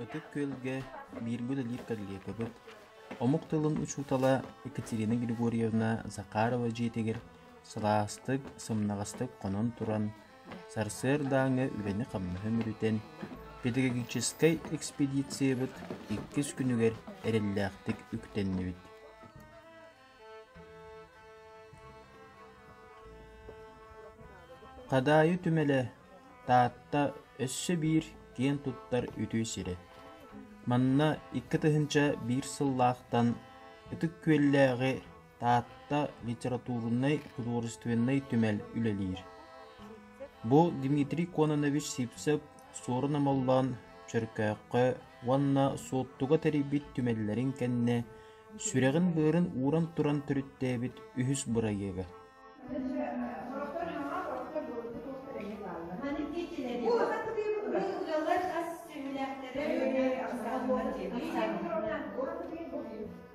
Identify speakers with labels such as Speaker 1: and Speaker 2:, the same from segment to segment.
Speaker 1: Ытык Күөлгэ бииргэ үлэлиир коллегабыт, омук тылын учуутала Екатерина Григорьевна Захарова дьиэтигэр сылаастык, сымнаҕастык хонон туран, Сарсыардааҥҥы үлэни-хамнаһы мүрүтэн, педагогическай экспедициябыт иккис күнүгэр эрэллээхтик үктэннибит Хадаайы түмэлэ Таатта өссө биир киэн туттар үтүө сирэ. Манна икки тыһыынча биир сыллаахтан Ытык Күөллээҕи Таатта литературнай, художественнай түмэл үлэлиир. Бу Дмитрий Кононович Сипцев Суорун Амаллаан Чөркөөххө уонна Суоттуга тэрийбит түмэллэрин кэннэ сүрэҕин-быарын ууран туран төрүттээбит үһүс бырайыага.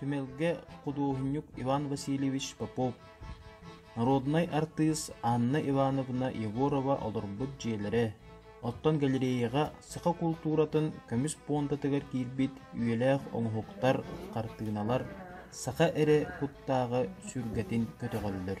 Speaker 1: Түмэлгэ худуоһунньук Иван Васильевич Попов, народнай артыыс Анна Ивановна Егорова олорбут дьиэлэрэ, оттон галереяҕа саха култууратын көмүс пуондатыгар киирбит үйэлээх оҥоһуктар, хартыыналар саха эрэ куттааҕа сүргэтин көтөҕөллөр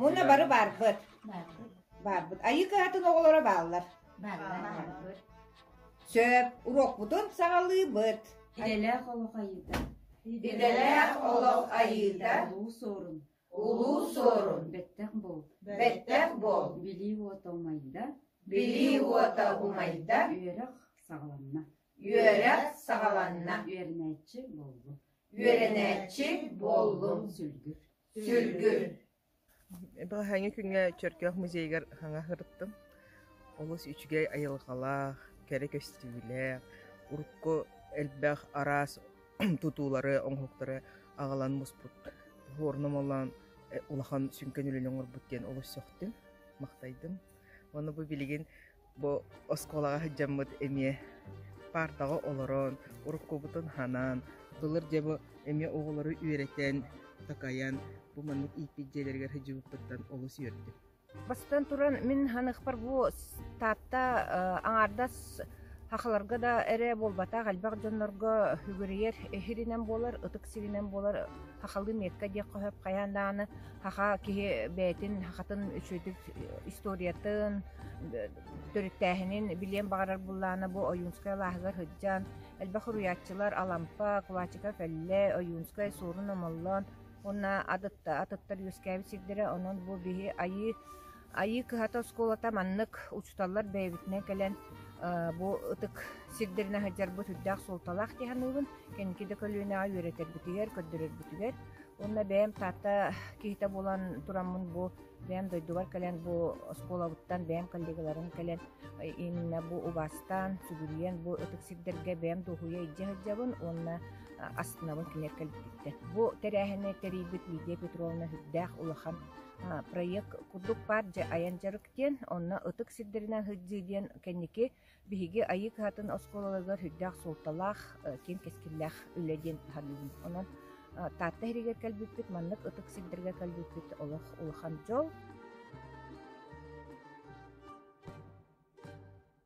Speaker 1: Уонна бары баарбыт. Баарбыт. Айыы кыһатын оҕолоро бааллар. Сөп. Уруокпутун саҕалыыбыт. Идэлээх олох айыыта. Идэлээх олох айыыта. Улуу суорун. Улуу суорун. Бэттэх буол. Бэттэх буол. Билии уота умайда. Билии уота умайда. Үөрэх саҕаланна. Үөрэх саҕаланна. Үөрэнээччи буоллум. Үөрэнээччи буоллум. Сүлгүр. Балаһыанньа күҥҥэ Чөркөөх музейыгар саҥа сырыттым. Олус үчүгэй айылҕалаах, кэрэ көстүүлээх, урукку элбэх араас тутуулары, оҥоһуктары аҕалан муспут Хворном олоон улахан сүҥкэн үлэни оҥорбут диэн олус сөхтүм, махтайдым. Уонна бу билигин Бу оскуолаҕа сылдьаммыт эмиэ паартаҕа олорон, уруккубутун ханан, былыр дьэ бу эмиэ оҕолору үөрэтэн, такайан, бу маннык ииппит дьиэлэригэр сылдьыбыппыттан олус үөрдүм. Бастан туран, мин ханыахпар бу Таатта аҥаардас сахаларга да эрэ буолбатах, элбэх дьоннорго үгүрүйэр иһиринэн буолар, ытык сиринэн буолар Сахалыы метка диэх хоһоп хайаан даҕаны саха киһи бэйэтин сахатын үчүгэйдик историятын, төрүттээһинин билиэн баҕарар буллаана бу Ойуунскай алааһыгар сылдьан, элбэх уруйааччылар Алампа, Кулачика Кэллэ, Ойуунскай Суорун Омоллоон уонна атытта атыттар үөскээбит сирдэрэ. Онон бу биһи айыы Айыы кыһата оскуолата маннык учууталлар бэйэбитинэн кэлэн бу ытык сирдэрин аһыдьарбыт үрдээх суолталаах дии саныыбын. Кэнники да көлүөнэҕэ үөрэтэрбитигэр, көрдөрөрбүтүгэр. Уонна бэйэм Таатта киһитэ буолан тураммын бу бэйэм дойдубар кэлэн бу оскуолабыттан бэйэм коллегаларын кэлэн иннинэ бу убаастаан, сүгүрүйэн бу ытык сирдэргэ бэйэм дуоһуйа илдьэ сылдьабын уонна астынабын кинилэр кэлбититтэн. Бу тэрээһини тэрийбит Лидия Петровна үрдээх улахан проект курдук паар дьэ айан дьарык диэн онно ытык сирдэринэн сылдьыы диэн кэнники биһиги айыы кыһатын оскуолаларыгар сүрдээх суолталаах киэҥ кэскиллээх үлэ диэн таһаарыыбын онон таатта иһигэр кэлбиппит маннык ытык сирдэргэ кэлбиппит олох улахан дьол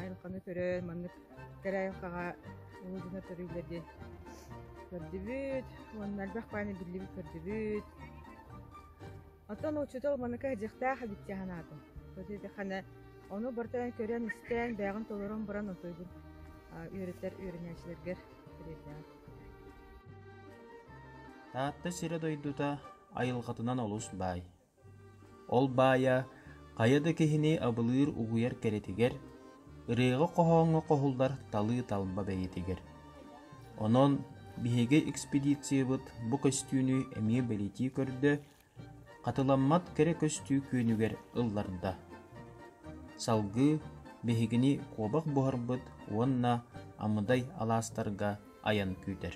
Speaker 1: айылҕаны көрөн маннык кэрэ айылҕаҕа уу дьоно төрүүллэр диэн көрдүбүт уонна элбэх бааны биллибит көрдүбүт оттон учуутал маныка дьиэхтээх эбит дии санаатым хана ону бартан көрөн истэн бэйэҕин толорон баран отойгун үөрэтэр үөрэнээччилэргэр тириэрдэҕин таатта сирэ дойдута айылҕатынан олус баай Ол баайа хайа да киһини абылыыр угуйар кэрэтигэр, ырыаҕа-хоһооҥҥо хоһуллар талыы талба бэйэтигэр. Онон биһиги экспедициябыт бу көстүүнү эмиэ бэлитии көрдө, хатыламмат кэрэ көстүү күөнүгэр ылларда. Салгыы биһигини куобах буһарбыт уонна Амыдай алаастарга айан күүтэр.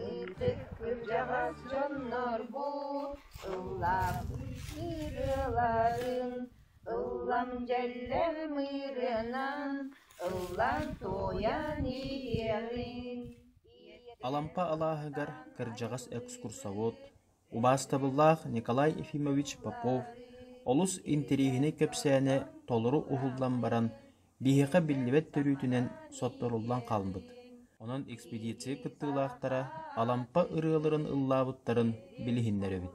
Speaker 1: Ытык кырдьаҕас дьоннор бу сыллап ыарыыларын Ыллам дьэллэр мыырынан, ыллар туойан иһиэҕиҥ Алампа алааһыгар кырдьаҕас экскурсовод, убаастабыллаах Николай Ефимович Попов олус интириэһинэй кэпсээнэ толору уһуллан баран, биһиэхэ биллибэт төрүүтүнэн сотторуллан хаалбыт. Онон экспедиция кыттыылаахтара Алампа ырыаларын ыллаабыттарын билиһиннэрэбит.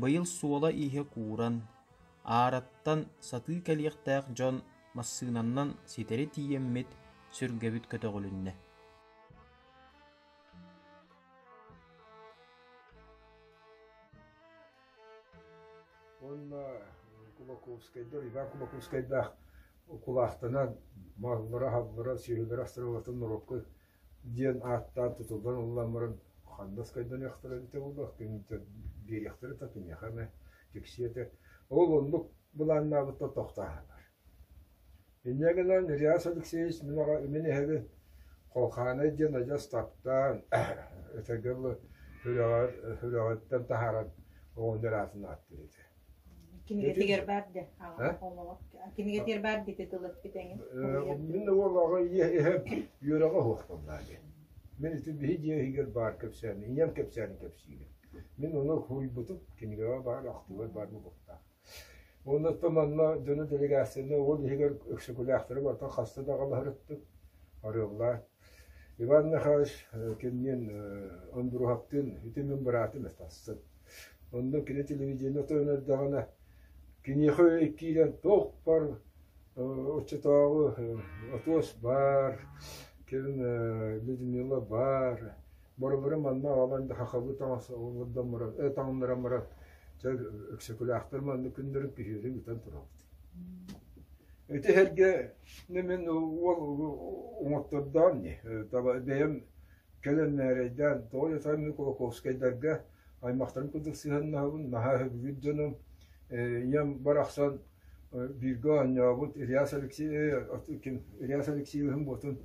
Speaker 1: Быйыл суола-ииһэ кууран, аараттан сатыы кэлиэхтээх дьон массыынаннан ситэри тиийэммит, сүргэбит көтөҕүлүннэ. Уонна Кулаковскайдар, Иван Кулаковскайдаах укулаахтанан, маллара, аһаллара, сүөһүлэрэ астаралларын норуокка диэн ааттаан тутуллан ылламмарын ханна скайданыахтара эбитэ буолуо киниттэн биэриэхтэрэ да киниэхэ эмэ тиксиэ этэ ол оннук былааннаабыттан тохтооһуннар инньэ гынан ильяс алексеевич миэхэ мин эһэбин холхаанай диэн адьас таптаан өтөргө дылы сүрэҕэр сүрэҕиттэн таһааран оҕонньор аатын ааттыыр этэ Кинигэтигэр баарда. Кинигэтигэр баар дити тылыппыт эҥин. Мин олоҕо иһэм үөрэҕэ оһуохталлааги. Мен ити биһи дьиэһигэр баар кэпсээни, ийэм кэпсээни кэпсиирим. Мин оны хуйбутум, кинигэҕэ баар, ахтыылар баар букуттаах. Оннуттан манна дьону делегацияны ол иһигэр өксөкүлээхтэрэ барта хаста да галаһырыттык, арыллаат, Иван Михайлович кининэн Ондуруһаптыын ити мин быраатым этэ тахсан, онно кини телевидение тойон эрдэҕинэ киниэхэ үөй киирэн туохпар оччотооҕу Отуос баар, кэлин Людмила баар Боробору манна оҕолон хахабы таҥас таҥнаран баран чэ Өксөкүлээхтэр манна күннэрин күһүөрү бүтэн турабыт. Ити сэргэ мин уол уҥуохтордоон ни таба бэйэм кэлэн мээрэйдээн тоҕо жатаан Кулаковскайдарга аймахтарын курдук сыһаннаабын наһаа хөбүгүт дьонум ийэм барахсан бииргэ оонньообут Ильяс Алексеевич ким Ильяс Алексеевиһин ботун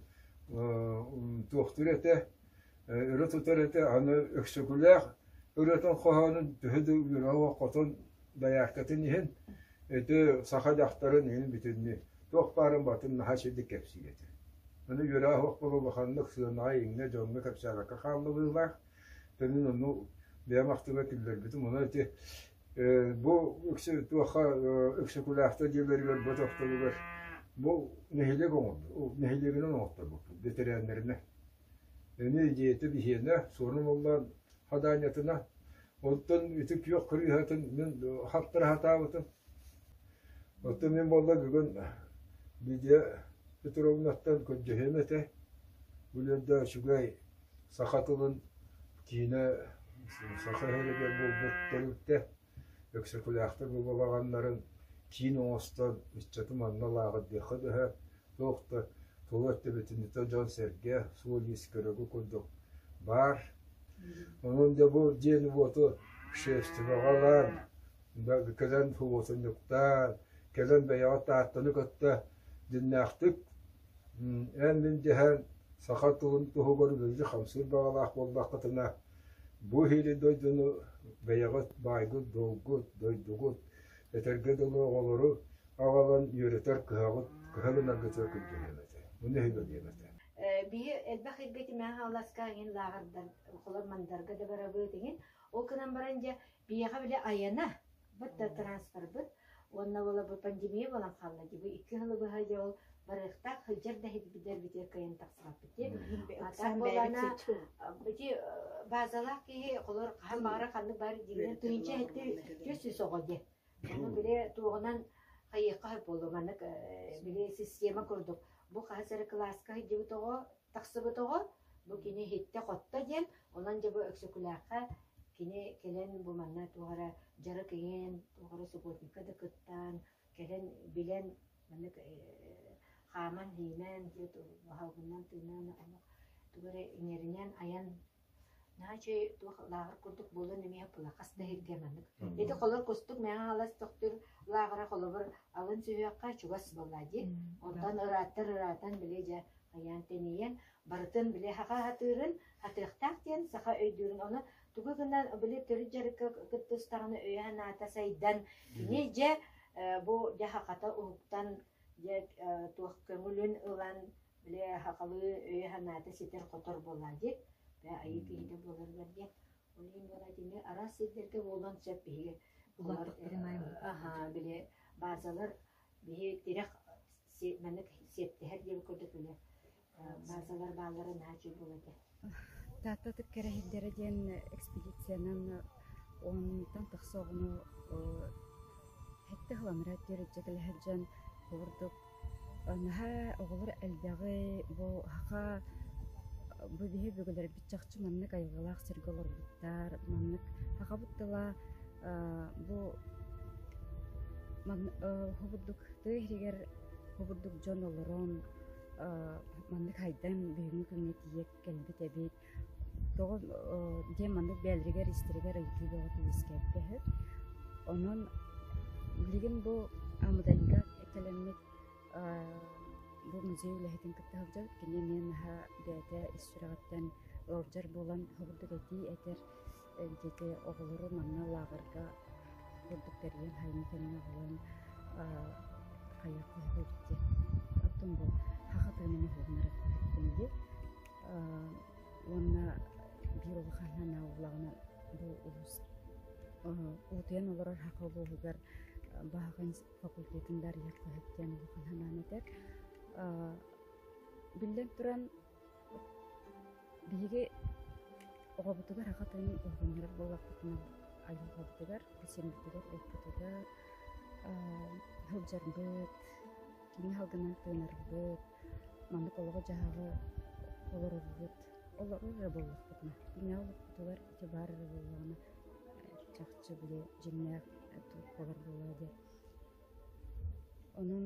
Speaker 1: туохтуур этэ, өрө тутар этэ, аны Өксөкүлээх ырыатын хоһоонун төһө да үөрэҕэ хотон дояркатын иһин, ити саха дьахтарын иһин бүтүннүү туох баарын батын наһаа сирдик кэпсиир этэ. Аны үөрэх оһох була улаханнык сыанаҕа иҥнэ дьоҥҥо кэпсээбэккэ хаалларыылаах. Төнүн ону бэйэм ахтыма киллэрбитим, ону ити Бу үксэ туохха Өксөкүлээхтэр дьиэлэригэр бу тохтобугар бу нэһилиэк оҥорбут, нэһилиэгинэн оҥорторбуппут бэтэрээннэринэ. Эмиэ дьиэтэ биһиэнэ Суорун Уллаан Хадаанньатына. Оттон ити күөх кырыыһатын мин хаптара сатаабытым. Оттон мин буолла бүгүн Лидия Петровнаттан көрдөһүөм этэ. Бүлүөрдэ үчүгэй саха тылын киинэ саха иһигэр буолбут тэрилтэ Өксөкүлээхтэр бу балаҕаннарын киин оҥостон ыччаты манна лааҕырдыахха бөһө туох да тула өттөбүтүннэтэ дьон-сэргэ суол-иис көрөгү курдук баар онон да бу дьиэни-уоту шерстеваҕа ылан кэлэн субуотунньуктаан, кэлэн бэйэҕэ Тааттаны кытта дьиннээхтик эн мин дьэһэн саха тылын туһугар үлэлии хамсыыр баҕалаах буоллаххытына, бу иһири дойдуну бэйэҕит баайгыт, долгут, дойдугут, этэргэ дылы оҕолору аҕалан үөрэтэр кыһаҕыт кыһыл ынаргытыгар күндүлүөм этэ. Муну өһүгөлүөм этэ. Бии элбэх иргэ тимээх ааласка иҥин лааҕырдан холор мандарга да барабыт иҥин ол гынан баран дьэ Биһиэхэ били Айана быт да транспорбыт уонна буола бу пандемия буолан хаалла дии бу икки сылы быһа дьэ ол барыахтаах сылдьар да иһитбитэрбитигэр кыайан тахсыбаппыт диэн. А так буолана бити базалаах киһи холор хаһан баара ханнык баар диигинэн тыынча этти түс үс оҕо дии. Ону били туоҕунан хайыахха болу маннык били система курдук бу хаһыс эрэ кылааска сылдьыбыт оҕо Тахсыбытоҕо, бу кини иһиттэ-хотто диэн, онон дьэ бу Өксөкүлээххэ кини кэлэн бу манна туох эрэ дьарык иҥэн, туох эрэ субботника да кыттаан, кэлэн билэн, маннык хааман-иһимэн, баһалгыннан тыынан, тугу эрэ иҥэринэн, айан Наһаа үчүгэй туох лааҕыр курдук буолуон эмиэ ылла хас да иһиргэ маннык. Ити холор кустук мэҥэ хаалас төхтүр лааҕыра холобур алын сүһүөххэ чугас буоллаа дии. Оттон ырааттар ыраатан били дьэ хайаан тэнийэн барытын били хаха атыырын атыахтаах диэн саха өйдүүрүн ону тугу гына били төрүт дьарыкка кытта устаҕына өйө санаата сайдан кини дьэ бу дьэ хахата уһуктан дьэ туох көҥүлүн ылан Били сахалыы өйө-санаата ситэр-хотор буолаа диэт, айыы киһитэ буоларыгар диэн. Ол иһин буолаа итини араас сирдэргэ буолуон сөп биһиги булааттыктарын аһаа били баазалар биһи тирэх маннык сиэттиһэр диэбит курдук били баазалар бааллара наһаа үчүгэй буолар этэ Тааттатык кэрэһэйдэрэ диэн экспедициянан оннуттан тахса оҕону сэттэ сылын эрэ диэри илдьэ кэлэһэр дьон курдук наһаа оҕолор элбэҕи бу саха бу биһи бүгүлэрбит чахчы маннык айылҕалаах сиргэ олорбуттар, маннык сахабыт тыла бу уһу бурдук тыа иһигэр уһу бурдук дьон олорон маннык хайдан бүгүҥҥү күҥҥэ тиийэ кэлбит эбит тоҕо дьэ маннык бэйэлэригэр истэригэр ыйытыы бөҕө үөскээбитэ онон билигин бу Амадальга кэлэммит бу музей үлэһитин кытта сылдьар кини эмиэ наһаа бэйэтэ ис сүрэҕиттэн ыалдьар буолан хобурдук этии этэр дьэдьэ оҕолору манна лааҕырга курдук тэрийэн сайыҥҥы кэмҥэ ылан хайа көһөрөр диэн оттон бу хахатыын нэһилиэннэр диэн уонна биир улаханынан аулаҕынан бу улус утуйан олорор хаха улууһугар баһаҕын факультетын дарыйар көһөр диэн улахан санаан этэр биллэн туран Биһиги оҕобутугар аҕа тойон уһугуннарар буоллахпытына айылҕабытыгар, кичэммитигэр эппитигэр сылдьарбыт, киин салгынын тыынарбыт, маннык олоҕу-дьаһаҕы олорорбут олорор эрэ буоллахпытына, дьиҥэ олохпутугар ити баар эрэ буоллаҕына чахчы били дьиҥнээх толкуйдар буолуо диye. Онон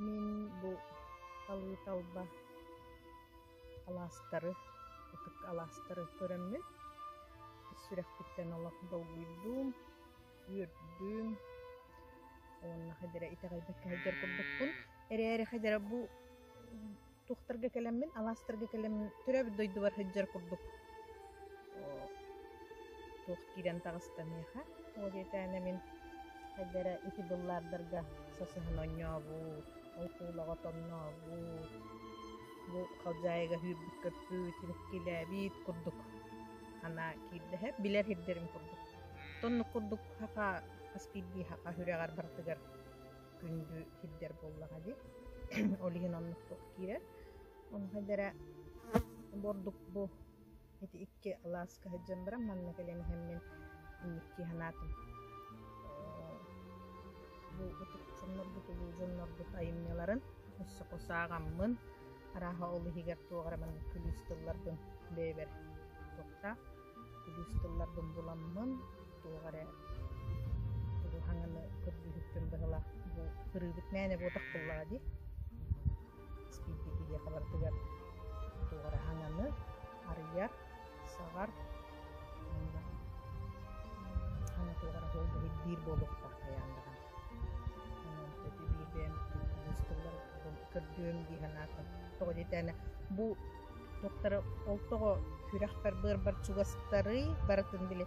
Speaker 1: Мин бу Халыыталба алаастары, ытык алаастары көрөммүн, сүрэхпиттэн олох долгуйдум, үөрдүм уонна хадьыра итэҕэйбэккэ сылдьар курдукпун. Эрээри хадьыра бу туохтарга кэлэммин, алаастарга кэлэммин төрөөбүт дойдубар сылдьар курдук туох киирэн таҕыстаныаха. Ол кээтээнэ мин эдэрэ ити быллаардарга сасыһан онньообут, ол куулаҕа тоннообут, бу халдьаайыга сүүрбүт көппүт, иликкилээбит курдук анаа киирдэһэ билэр сирдэрим курдук. Тоннук курдук саха хас биирдии саха үрэҕэр барытыгар күндү сирдэр буоллаҕа дии. Ол иһин оннук туох киирэр. Онхайдара бордук бу ити икки алааска сылдьан баран манна кэлэн иһэммин инникки санаатым бу ытык дьоннорбут айымньыларын өссө кусааҕаммын арааһа ол иһигэр туох эрэ маннык күлүүс тылларбын бэйэбэр туохта күлүүс тылларбын буламмын туох эрэ тугу хаҥаны көрдүүрүттэн быһылаах бу кырыыбыт мээнэ буотах буллаҕа дии спирди киһиэхаларытыгар туох эрэ хаҥаны арыйар саҕар хана туох эрэ холбоһур биир буолуохтаах хайаан даҕаны көрдүөм дии санаатым тоҕо диэтээнэ бу туохтара ол тоҕо күрэхпэр быарбар чугастарый барытын били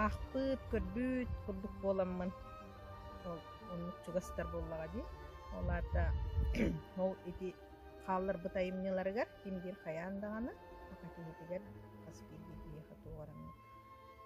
Speaker 1: аахпыт көрбүт курдук буоламмын ол оннук чугастар буоллаҕа дии ол аата ол ити хаалларбыт айымньыларыгар ким диир хайаан даҕаны саха киһитигэр хас биирдии киһиэхэ туох эрэ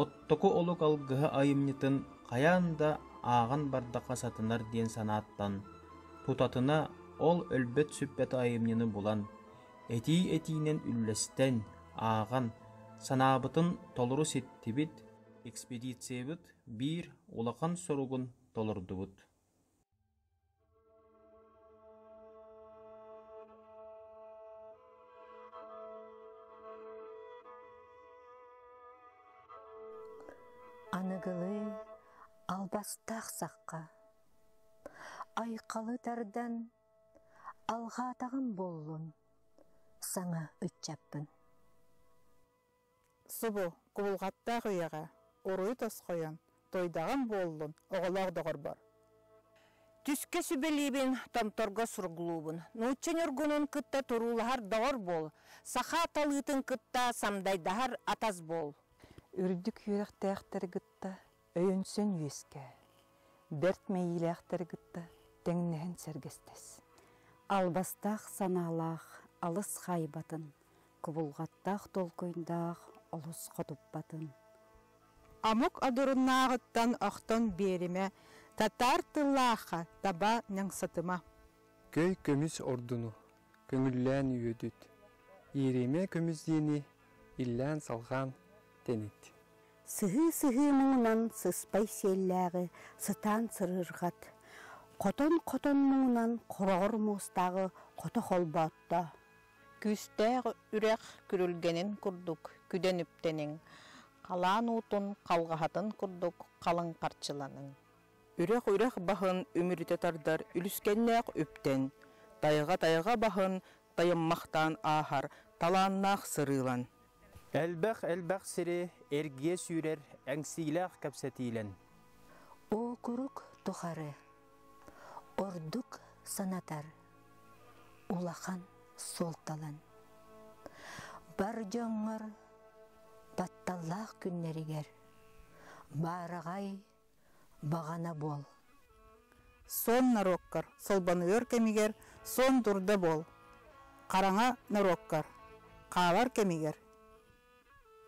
Speaker 1: оттоку олук алгыһы айымньытын хайаан да ааҕан бардахха сатанар диэн санааттан тутатына ол өлбөт-сүппэт айымньыны булан, этии-этиинэн үллэстэн, ааҕан, санаабытын толору ситтибит, экспедициябыт биир улахан соругун толордубут. аныгылыы албастаах сахха айқалы тардан алҕаатаҕым буоллун саҥа ыччаппын Субу, кубулҕаттаах ийэҕэ, уруй тосхойон, туойдаҕым буоллун, оҕолоох доҕорбор! Түскэ сүбэлиибин, Томторго сургулуубун. Нуучча ньургунун кытта туруулаһар доҕор буол, саха талыытын кытта самдайдаһар атас буол. Үрдүк үөрэхтээхтэри кытта Өйөнсөн үөскээ. Бэрт мэйиилээхтэри кытта тэҥнэһэн сэргэстэс. Албастаах санаалаах алыс хаайбатын, кубулҕаттаах толкуйдаах олус хотуппатын. Омук одуруннааҕыттан охтон биэримэ, татаар тыллаахха таба ньаҥсатыма. Көй көмүс ордуну көҥүллээн үөдүт, ииримэ көмүс диэни иллээн-салҕаан тэнит. Сыһыы-сыһыы муҥунан сыспай сиэллээҕи сытаан сырыырҕат, хотон-хотон муҥунан хороҕор муостааҕы хото холбоотто. Күүстээх үрэх күрүлгэнин курдук күдэн үптэниҥ, халаан уутун халҕаһатын курдук халыҥ харчыланыҥ. Үрэх-үрэх баһын үмүрүтэ тардар үлүскэннээх үптэн, тайҕа-тайҕа баһын тайыммахтаан ааһар талааннаах сырыылан. Элбэх-элбэх сири эргийэ сүүрэр эҥсиилээх кэпсэтиилэн. Окурук тухары ордук санатар улахан суолталан. Бар дьоҥҥор батталлаах күннэригэр баараҕай баҕана буол. Сон норуоккар солбонуйар кэмигэр сон дурда буол. Хараҥа норуоккар хаалар кэмигэр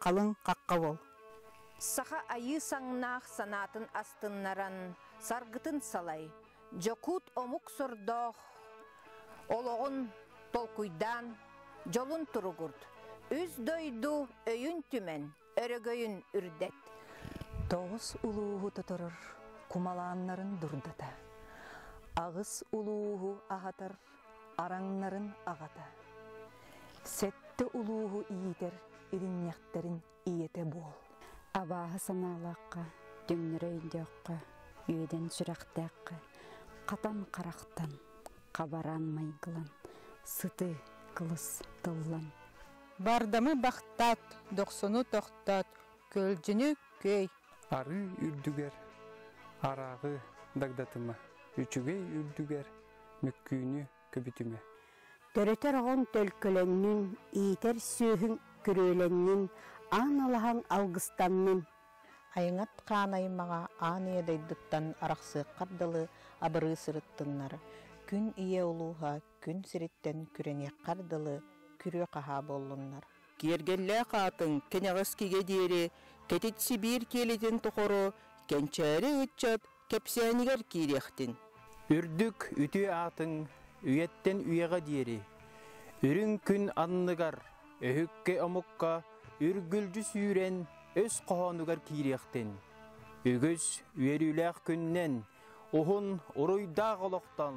Speaker 1: халыҥ хахха буол. Саха айыы саҥнаах санаатын астыннаран саргытын салай, дьокуут омук сордоох олоҕун толкуйдаан, дьолун туругурт. Үс дойду өйүн түмэн, өрөгөйүн үрдэт. Тоҕус улууһу тоторор кумалааннарын дурдата. Аҕыс улууһу аһатар араҥнарын аҕата. Сэттэ улууһу иитэр иринньэхтэрин ийэтэ буол. Абааһы санаалаахха, түҥнэрэ өйдөөххө, үөдэн сүрэхтээххэ, хатан харахтан, хабараан майгылан, сыты, кылыс тыллан, Бардамы бахтат, дохсуну тохтот, көлдьүнү күөй. Арыы үрдүгэр арааҕы дагдатыма, үчүгэй үрдүгэр мөккүүнү көбүтүмэ. Төрөтөр оҕоҥ төлкөлөннүн, иитэр сүөһүҥ күрүөлэннин, аан ылаһаҥ алгыстаннын. Айаҥат хаан аймаҕа аан ийэ дойдуттан арахсыаххар дылы абырыы сырыттыннар, күн ийэ улууһа күн сириттэн күрэниэххэр дылы күрүө-хаһаа буоллуннар. Киэргэллээх аатын кэнэҕэс кигэ диэри Кэтит Сибиир киэлитин тухары кэнчээри ыччат кэпсээнигэр киириэхтин. Үрдүк үтүө аатыҥ үйэттэн үйэҕэ диэри, үрүҥ күн анныгар, өһүккэ омукка үргүлдьү сүүрэн өс хоһоонугар киириэхтин. Үгүс үөрүүлээх күннэн уһун уруйдаах олохтон